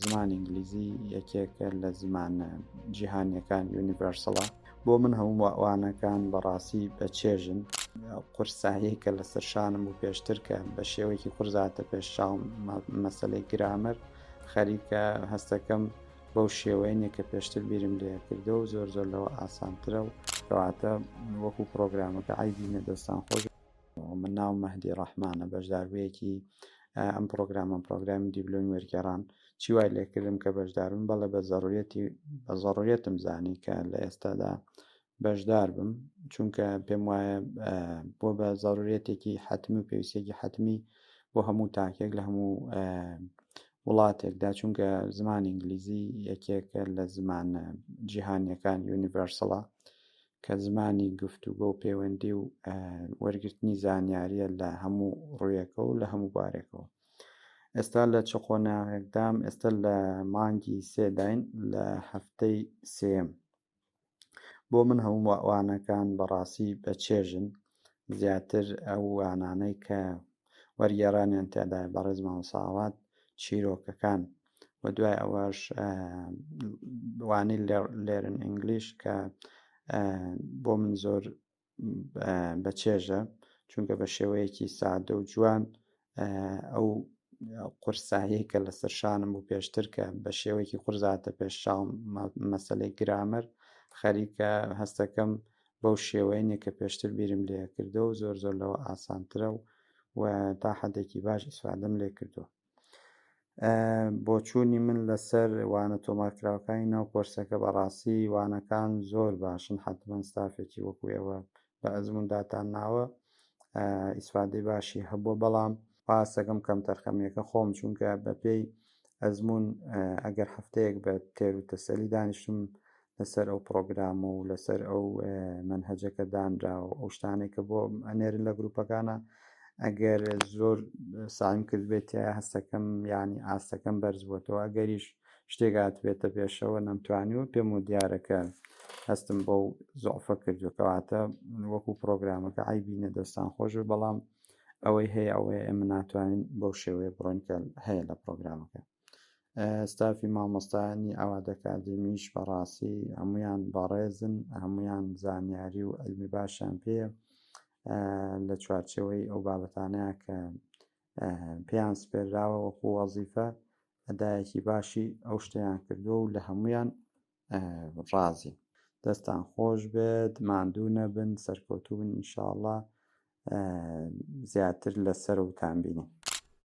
زمانی ئینگلیزی یەکێکە لە زمانە جیهانیەکان یونیڤەرسڵە بۆ من هەموو ئەوانەکان بەڕاستی بە چێژن قورسایی کە لەسەر شانم و پێشتر کە بە شێوەیەکی قورزاتە پێش چاوم مەسلەی گرامەر خەریکە هەستەکەم بەو شێوەیە کە پێشتر بیرم لێ کردەوە زۆر زۆر لەوە ئاسانترە و کەواتە وەکو پرۆگرامەکە ئایدی نەدەستان خۆش من ناوم مەهدی ڕەحمانە بەشداربوویەکی ئەم پرۆگرامە پرۆگرامی دیبلۆمی وەرگێڕان چی وای لێکردم کە بەشدارم بەڵێ بە زەڕورەتی بە زەڕورەتم زانی کە لە ئێستادا بەشدار بم چونکە پێم وایە بۆ بە زەڕورەتێکی حتمی و پێویستێکی حتمی بۆ هەموو تاکێک لە هەموو وڵاتێکدا چونکە زمان ئینگلیزی یەکێکە لە زمانە جیهانیەکان یونیڤەرسڵە کە زمانی گفتوگۆ و پەیوەندی و وەرگرتنی زانیاریە لە هەموو ڕوویەکە و لە هەموو بارێکەوە ئێستا لە چ قۆناغێکدام ئێستا لە مانگی سێداین لە هەفتەی سێم بۆ من هەموو وانەکان بەڕاستی بە چێژن زیاتر ئەو وانانەی کە وەرگێڕانیان تێدای بەڕێز مامساوات چیرۆکەکان و دوای ئەوەش وانەی لێرن ئینگلیش کە بۆ من زۆر بە چێژە چونکە بە شێوەیەکی سادە و جوان ئەو قورسایی کە لەسەر شانم و پێشتر کە بە شێوەیەکی قورزاتە پێش شاڵ مەسلەی گرامەر خەریکە هەستەکەم بەو شێوەیە کە پێشتر بیرم لێ کردو و زۆر زۆر لەوە ئاسانترە و و تا حدێکی باش ئیسفادەم لێ کردووە بۆچوونی من لەسەر وانە تۆمارکراوەکانی ناو کۆرسەکە بەڕاستی وانەکان زۆر باشن حتمما ستافێکی وەکو ئێوە بە ئەزمونداتان ناوە ئیسفادەی باشی هەبووە بەڵام پاسەکەم کەم تەرخەمیەکە خۆم چونکە بەپێی ئەزمون ئەگەر هەفتەیەک بە تێر و تەسەلی دانیشتم لەسەر ئەو پڕۆگرامە و لەسەر ئەو مەنهەجە کە دانراوە ئەو شتانێک کە بۆ ئەنێرن لە گروپەکانە ئەگەر زۆر سایم کرد بێت هەستەکەم ینی ئاستەکەم بەرزبووەوە ئەگەریش شتێکات بێتە پێشەوە نەمتوانی و پێم و دیارەکە هەستم بەو زۆفە کردو کەواتە وەکو پرۆگرامەکە ئایبینە دەستان خۆش بەڵام ئەوەی هەیە ئەوەیە ئێمە ناتوانین بەو شێوەیە بڕۆنکە هەیە لە پرۆگرامەکە ستافی مامۆستایانی ئاوات ئەکادیمیش بەڕاستی هەمویان بەڕێزن هەمویان زانیاری و علمی باشیان پێیە لە چوارچەوەی ئەو بابەتانەیە کە پێیان سپێراوە وەکو وەزیفە ئەدایەکی باشی ئەو شتیان کردووە و لە هەمویان ڕازی دەستان خۆش بێت ماندوو نەبن سەرکەوتوبن ئینشاءله زیاتر لەسەر وتان بینین